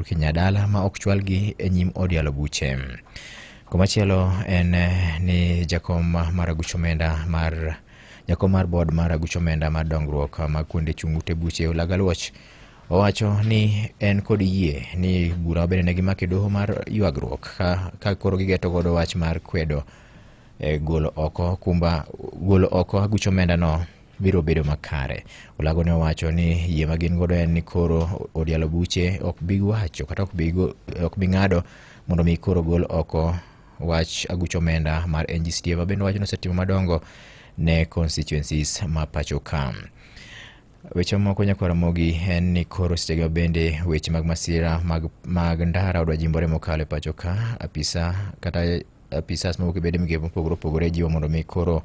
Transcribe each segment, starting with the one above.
Kinyadala ma ok chwalgi e nyim od yalo buche. Komachielo en eh, ni jakom mar aguch omenda mar jakom mar bod mar aguch omenda mar dongruok mag kuonde chung' ute buche Olaga Luoch owacho ni en kod yie ni bura obende ne gimako e doho mar ywagruok ka, ka koro gigeto godo wach mar kwedo eh, golo oko kumba golo oko aguch omenda no biro bedo makare. Olago ne owacho ni yie ma gin godo en ni koro odialo buche ok bi wacho kata ok bi go- ok bi ng'ado mondo mi koro gol oko wach aguch omenda mar NGCDF ma bende wachno osetimo madongo ne constituencies ma pacho ka. Weche moko nyakwara mogi en ni koro sechego bende weche mag masira mag, mag ndara odwa jimbore mokalo e pacho ka apisa kata apisas mowuok e bede migepe mopogore opogore jiwo mondo mi koro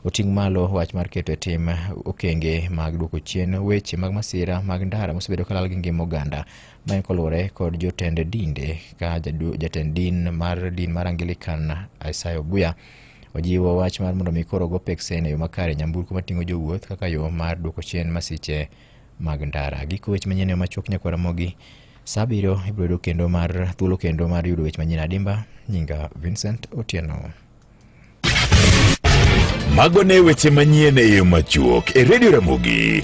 oting' malo wach mar keto e tim okenge mag duoko chien weche mag masira mag ndara mosebedo kalal gi ngima oganda ma en koluwore kod jotend dinde ka jadu- jatend din mar din mar angilikan isaya oguya ojiwo wach mar mondo mi koro go peksen e yo makare nyamburko mating'o jowuoth kaka yo mar duoko chien masiche mag ndara. Giko weche manyien machuok nyakwara mogi saa abiriyo ibiro yudo kendo mar thuolo kendo mar yudo weche manyien adimba. Nyinga Vincent Otieno. Mago ne weche manyien e yo machuok e Radio Ramogi.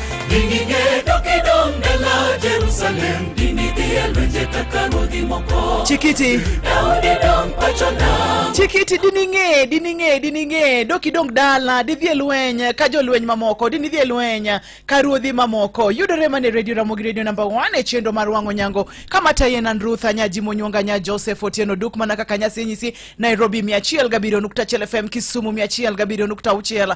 Chikiti. Chikiti dining'e dining'e dining'e doki dong dala didhi e lweny ka jolweny mamoko dini dhi e lweny ka ruodhi mamoko yudore mane redio Ramogi redio namba 1 e chenro mar wang'o nyango kama tayen an Ruth Anyaji Monyonga nya Joseph Otieno Duk mana kaka nyasi nyisi Nairobi 107.1 FM Kisumu 107.6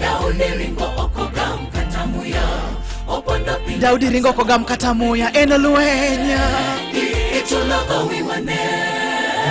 Daudi ringo okoga mkata muya opondo piny Daudi ringo okoga mkata muya en lweny ichulo gowi mane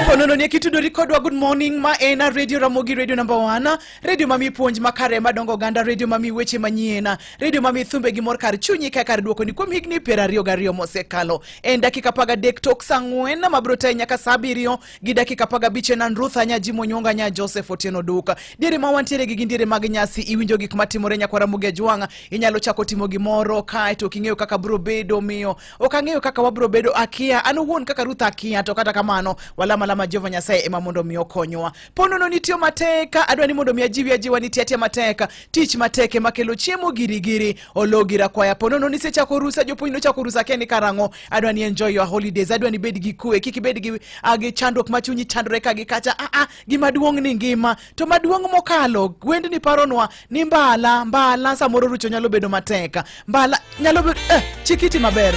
Ponono ni kitudori kodwa good morning ma en radio Ramogi radio number 1 radio mami puonj makare madongo ganda radio mami weche manyien radio mami thumbe gi mor kar chunyi ka kar duoko ni kuom higni piero ariyo gariyo mosekalo en dakika paga dek tok sang'wen mabiro tayi nyaka saa abiriyo gi dakika apar gabich en an Ruth Anya Jimo Nyonga Nya Joseph Otieno Duka. Diere ma wantiere gi gin diere mag nyasi iwinjo gik matimore nyakwara Muge Jwang'a inyalo chako timo gimoro kae to king'eyo kaka bro bedo miyo ok ang'eyo kaka wabro bedo akia an owuon kaka Ruth akia to kata kamano walama lama Jehova Nyasaye ema mondo mi okonywa. Ponono nitiyo mateka adwa ni mondo mi ajiwi ajiwa ni tiatia mateka tich mateke makelo chiemo girigiri ologira kwaya ponono ni sechako rusa jopuonj nochako rusa keni karang'o adwa ni enjoy your holidays adwa ni bed gi kue kik ibed gi, uh, gi chandruok ma chunyi chandore ka gi kacha ah, ah, gima duong' ni ngima to maduong' mokalo wendni paronwa ni mbala mbala samoro rucho nyalo bedo matek mbala nyalo bedo eh, chikiti maber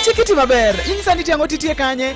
chikiti maber inyisa ni tiang'o titie kanye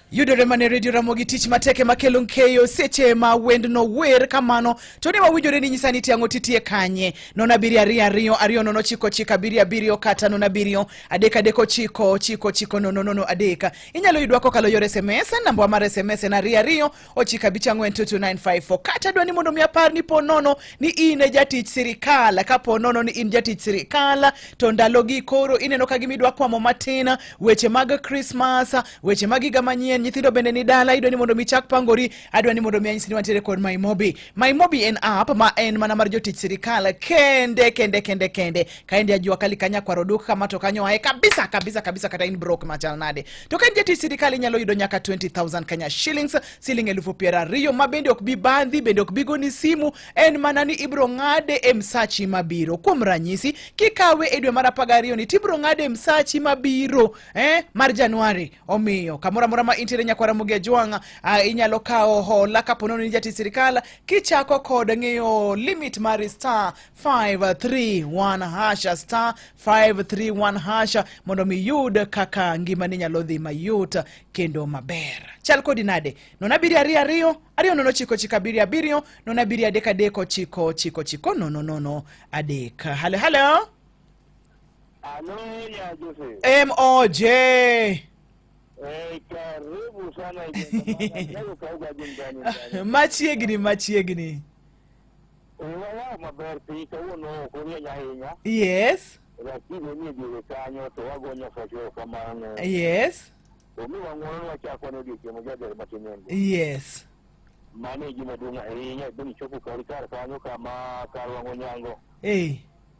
Yudore mane redio Ramogi tich matek ema kelo nkeyo seche ma wendno wer kamano to ne wawinjore ni nyisa ni tiang'o titie kanye nono abiriyo ariyo ariyo ariyo nono chiko chiko abiriyo abiriyo kata nono abiriyo adek adek ochiko chiko chiko nono nono adek inyalo yudwa kokalo yor sms nambawa mar sms en ariyo ariyo ochiko abich ang'wen two two nine five four kata dwa ni mondo mi apar ni po nono ni in e jatich sirikal ka po nono ni in jatich sirikal to ndalogi koro ineno ka gimidwa kwamo matin weche mag krismas Weche mag higa manyien, nyithindo bende ni dala, idwa ni mondo mi chak pangori, adwa ni mondo mi anyisi ni wantiere kod MyMobi. MyMobi en app ma en mana mar jotich sirikal kende kende kende kende. Kaende ajua kali kanya kwaro duk kama to kanyo ae kabisa kabisa kabisa kata in broke machal nade. To kaende jatich sirikal inyalo yudo nyaka 20000 Kenya shillings, siling elufu piero ariyo ma bende ok bi bandhi, bende ok bi goni simu, en mana ni ibro ng'ade e msachi mabiro. Kuom ranyisi, kikawe e dwe mar 12 ni tibro ng'ade e msachi mabiro eh, mar januari omiyo kamoro amora ma intiere nyakwara mugi ajwang' ah, inyalo kawo hola kapo nono ni jati sirikal kichako kod ng'iyo limit mar star 531 hasha star 531 hasha mondo mi yud kaka ngimani nyalo dhi mayot kendo maber chal kodi nade non abiriyo ariyo ariyo ariyo nono chiko chiko abiriyo abiriyo non abiriyo adek adek ochiko chiko chiko nono nono adek halo halo Halo ya Jose. MOJ. Eh, karibu sana Leo kauga jingani. Machiegni machiegni. Wala maber piny kawuono ok orieny ahinya. Yes. Lakini nie diere kanyo to wagonyo fwacho kamano. Yes. Omi wang'uono wachako ne odiechieng' mojaber matin en. Yes. Mano e gima duong' ahinya bende chopo kar kar kanyo kama kar wang'o nyango. Eh.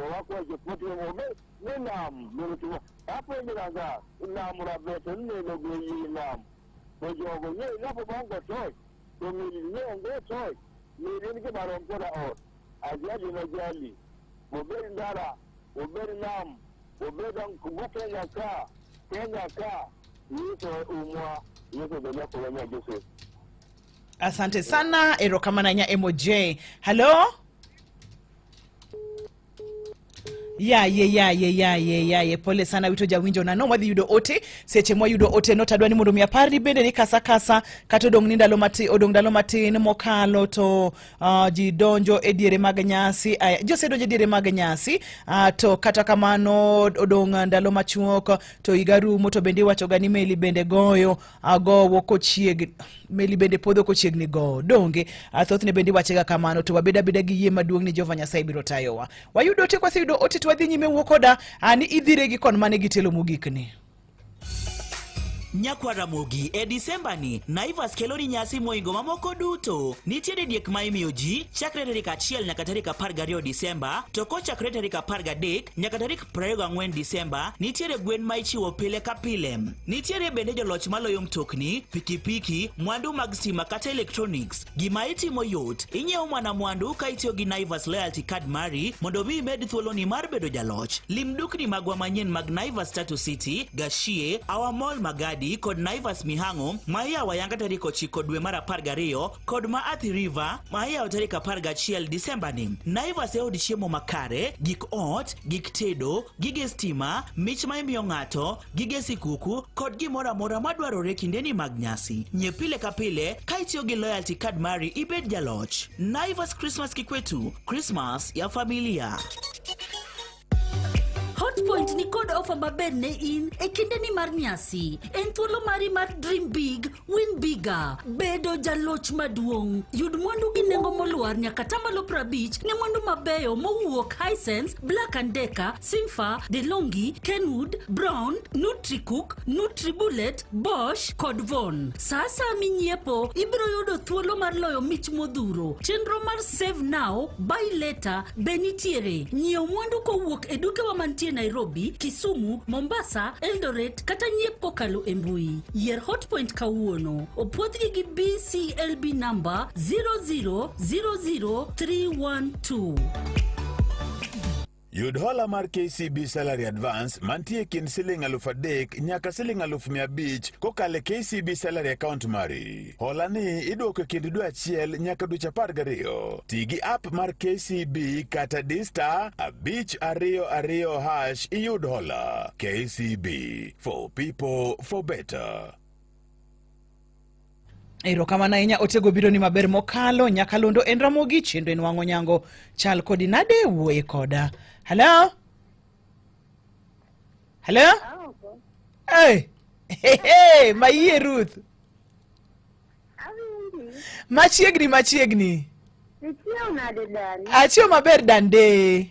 wakwa jepoti obe ne nam lolotiwa apo ndiraga nam rabete ne no go yi nam to jogo ne na po bango toy to mi ne ngo toy mi ne ke baro kola o ajaji na jali obe ndara obe nam obe dan kubu kenya ka kenya ka ni to umwa ni to da ko wanya jose asante sana erokamana nya moj halo yaye yaye yaye yaye pole sana wito jawinjo nano wadhi yudo ote seche mwayudo ote no tadwa ni mondo mi apar ni bende ni kasa kasa kata odong' ni ndalo matin odong' ndalo matin mokalo to uh, ji donjo e diere mag nyasi uh, ji osedonjo e diere mag nyasi uh, to kata kamano odong' ndalo machuok to higa rumo to bende iwachoga ni meli bende goyo agowo kochiegni meli bende podho kochiegni gowo donge athothne bende iwachega kamano to wabed abeda gi yie maduong' ni jehova nyasaye biro tayowa wayudo ote kwaseyudo ote to wadhi nyime wuo koda ani idhire gi kon mane gitelo mogikni Nyakwa Ramogi e Disemba ni Naivas kelo ni nyasi moingo mamoko duto. Nitie didiek ma imiyo ji chakre tarik achiel nyaka tarik apar gariyo Disemba to kochakre tarik apar gadek nyaka tarik 24 Disemba, nitiere gwen ma ichiwo pile ka pile. Nitiere bende joloch maloyo mtokni, pikipiki, mwandu mag stima kata electronics. Gima itimo yot, inyiewo mana mwandu ka itiyo gi Naivas Loyalty Card mari mondo mi imed thuoloni mar bedo jaloch. Lim dukni magwa manyien mag Naivas Tatu City, Gashie, Our Mall Magadi kod Naivas Mihango ma iyawo ayanga tarik 9 dwe mar 12 kod ma Athi River ma iyawo tarik 11 Disemba ni. Naivas e od chiemo makare, gik ot, gik tedo, gige stima, mich ma imiyo ng'ato, gige sikuku kod gimoro amora madwarore kindeni mag nyasi. Nye pile ka pile ka itiyo gi loyalty card mari ibed jaloch. Naivas Christmas Kikwetu, Christmas ya familia. Hotpoint ni kod ofa maber ne in e kindeni mar nyasi. En thuolo mari mar dream big, win bigger, bedo jaloch maduong'. Yud mwandu gi nengo molwar nyaka tamalo prabich ne mwandu mabeyo mowuok Hisense, Black and Decker, Simfa, DeLonghi, Kenwood, Brown, Nutricook, Nutribullet, Bosch kod Von. Sa asaya minyiepo, ibiro yudo thuolo mar loyo mich modhuro. Chenro mar Save Now, Buy Later be nitiere. Nyiew mwandu kowuok e dukewa mantie Nairobi, Kisumu, Mombasa, Eldoret kata nyiep kokalo e mbui. Yier Hotpoint kawuono. Opwodhgi gi BCLB namba 0000312. Yud hola mar KCB Salary Advance mantie kind siling aluf adek nyaka siling aluf mia abich kokalo e KCB Salary Account mari. Hola ni idwoko e kind dwe achiel nyaka dweche apar gariyo. Ti gi app mar KCB kata dista abich ariyo ariyo hash iyud hola. KCB for people for better. Erokamano ahinya otego biro ni maber mokalo nyakalondo en Ramogi chendo en wang'o nyango chal kodi nade wuoye koda. Hello? Hello? Hey. Hey, hey, mayie Ruth. Machiegni machiegni. Achiew maber dande.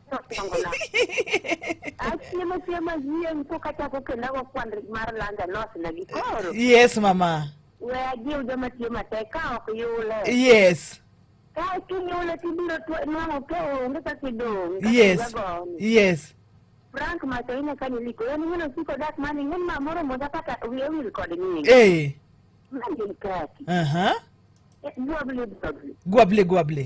achiemo chiemo yiem ko kachako kenda go kwan mar landa nos na gi koro yes mama we ajiw joma tiyo matek ka ok yule yes ka kinyule tibiro tw- nwang'o ke onge kaka idong' kaka yes igagoni. yes frank macho ine ka niliko en ng'eno siko dak mani ng'en ma moro moja kata wiye wil kod nying eh mangin kaki aha gwabli gwabli gwable gwable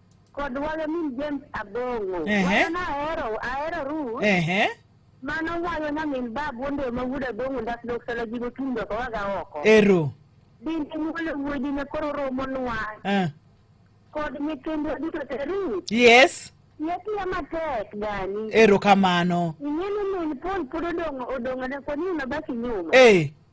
Kod walo min James Abongo. Ehe. Walo na ahero, ahero Ruth. Ehe. Mano walo na min babu onde ma wuod Abongo ndak dok sala jigo tung doko waga oko. Ero. Din in walo wuodi ne koro romo nwa. Ah. Kod nyithindwa duto te Ruth. Yes. Yatiya matek gani. Ero kamano. Ing'e ni min Paul pod odong' odong'one koni unabaki nyuma. Eh.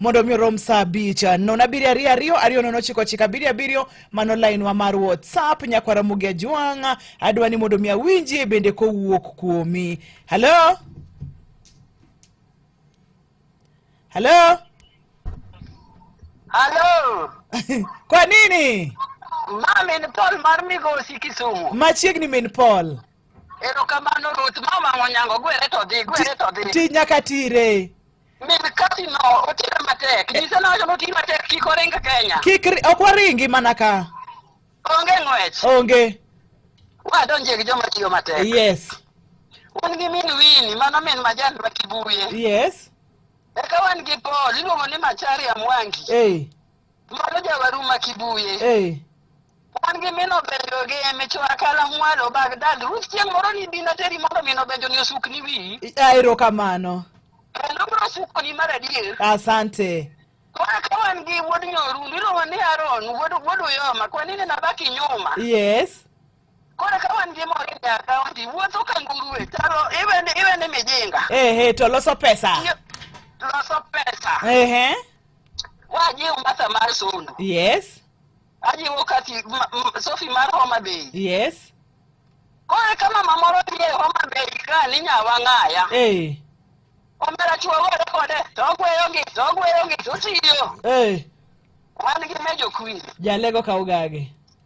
mondo mi orom saa abich nono abiriyo ariyo ariyo ariyo nono ochiko ochiko abiriyo abiriyo mano lainwa mar whatsapp nyakwara mugi ajwang' adwa ni mondo mi awinjie bende kowuok kuomi halo halo Halo, kwa nini ma min Paul mar Migosi Kisumu. machiegni min paul Erokamano Ruth, mama Onyango, gwere to dhi, gwere to dhi. ti nyaka tire Min kasi no otira matek. Nyise no wacho noti matek kik oring Kenya. Kik ri- ok waringi mana ka. Onge ng'wech. Onge. Wadonje gi joma tiyo matek. Yes. Un gi min Wini, mano min majan ma Kibuye. Yes. Eka wan gi Paul, iluongo ni Macharia Mwangi. Hey. Mwalo jawaru ma Kibuye. Eh. Wan gi mino benjo gi emicho akala mwalo Bagdad. Ruth chieng' moro ni bi nateri mondo mino benjo ni osuk ni wi. Aero kamano. Kendo bro suko ni mar adier. Asante. Kwa ka wan gi wuod nyoru, ndiro ni Aaron, wuod wuod Uyoma, kwa nini nabaki nyuma? Yes. Koro ka wan gi mor e akaunti, wuotho ka nguruwe, taro iwene iwene mijinga. Ehe, to loso pesa. Tiyo- Loso pesa. Ehe. Wajiwo mbasa mar Sondu. Yes. Ajiwo Kathy ma- m- Sophie mar Homa Bay. Yes. Koro ka mama moro nie Homa Bay ka ni Nyawang'aya. Eh. Omera chuo were kode, to ogweyo gi, to ogweyo gi, to otiyo. Eh. Wan gi Mejo Queen. Jalego ka ugage.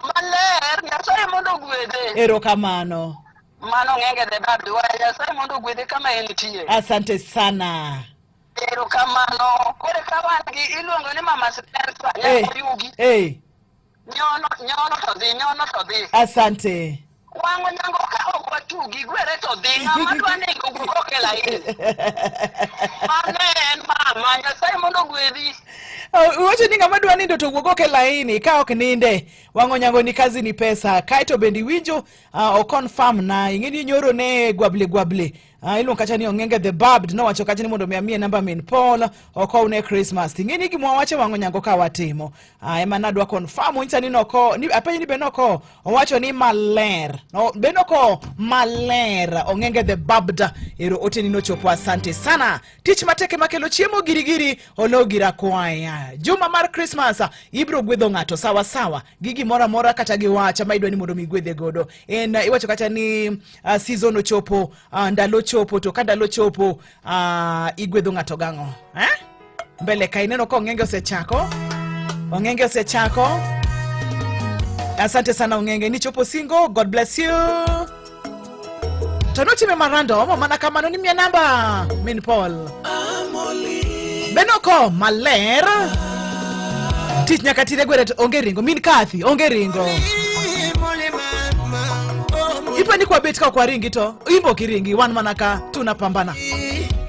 Maler, Nyasaye mondo ogwedhe. Erokamano. Mano ng'enge the bad way. Nyasaye mondo ogwedhe kama entie. Asante sana. Erokamano. Kore ka wan gi iluongo ni Mama Spencer Hey, Nyakoyugi. hey, Nyono nyono to dhi, nyono to dhi. asante. Wang' onyango ka ok watugi, gwere to dhi. Ng'ama dwa nego gugo ok e laini. Mano en mama, Nyasaye mondo ogwedhi. Oh, Iwacho ni ng'ama dwa nindo to wuog ok e laini ka ok ninde wang'o nyango ni kazi ni pesa kaeto bende iwinjo uh, o confirm na ing'e ni nyoro ne gwable gwable Ah, ilo kacha ni ongenge the barbed no wacho kacha ni mondo mi amie namba min Paul oko une Christmas tingi ni gimwa wache wango nyango ka watimo ah, ema nadwa confirm uncha ni noko ni apenyi ni benoko owacho ni maler no benoko maler ongenge the barbed ero oteni no chopo asante sana tich mateke makelo chiemo girigiri ologira kwaya juma mar Christmas ibro gwedho ng'ato sawa sawa gi gimoro amora kata gi wacha ma idwa ni mondo mi igwedhe godo en uh, iwacho kata ni uh, season ochopo uh, ndalo chopo to ka ndalo chopo uh, igwedho ng'ato gang'o eh? mbele ka ineno ka ong'enge osechako ong'enge osechako asante sana ong'enge ni chopo singo god bless you To notime marandom mana kamano ni miya namba min Paul. Benoko maler. Tich nyaka tire gwere to onge ringo min Kathy onge ringo. Ipo ni kwa bet ka kwa ringi to imbo kiringi wan mana ka tunapambana.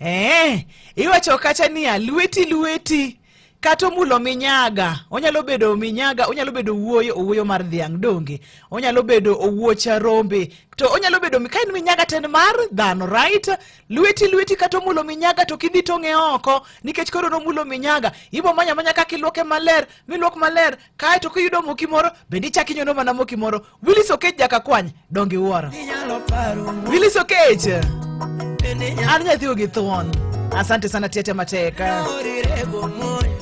Eh, iwacho kata niya lweti lweti kata omulo minyaga onyalo bedo minyaga onyalo bedo wuoyo owuoyo mar dhiang' donge onyalo bedo owuocha rombe to onyalo bedo ka en minyaga ten mar dhano right lweti lweti kata omulo minyaga to kidhi tong'e oko nikech koro nomulo minyaga ibo manya manya kaka ilwoke maler milwok maler kae to kiyudo moki moro bende ichak inyono mana moki moro wilis okech jaka kwany dongi wuoro wilis okech an nyathiwo gi thuon asante sana tiete mateka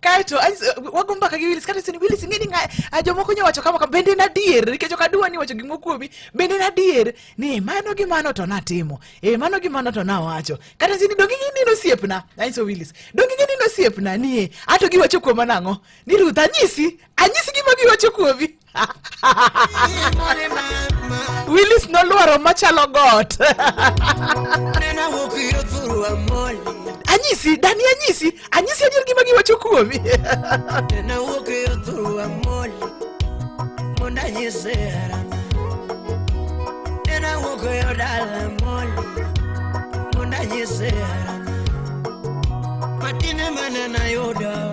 kaeto wago mbaka gi Willis kato isenyo Willis ing'e ni a jomoko nyo wacho kama bende en adier nikech ok adwa ni wacho gimoro kuomi bende en adier ni mano gi mano to natimo e mano gi mano to nawacho kata sini donge ing'e ni nosiepna nanyiso Willis donge ing'e ni nosiepna ni e ato giwacho kuoma nang'o ni Ruth anyisi anyisi gima giwacho kuomi Willis nolwaro machalo got. anyisi dani anyisi anyisi adier gima giwacho kuomi matine mana nayudo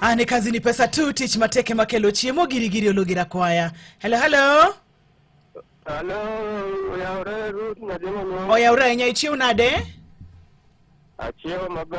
Ane kazi ni pesa tu tich mateke makelo chiemo girigiri ologira kwaya. Hello hello. Hello, oyawre Ruth Nyademo. Oyawre ahinya ichiew nade? Achiew maber.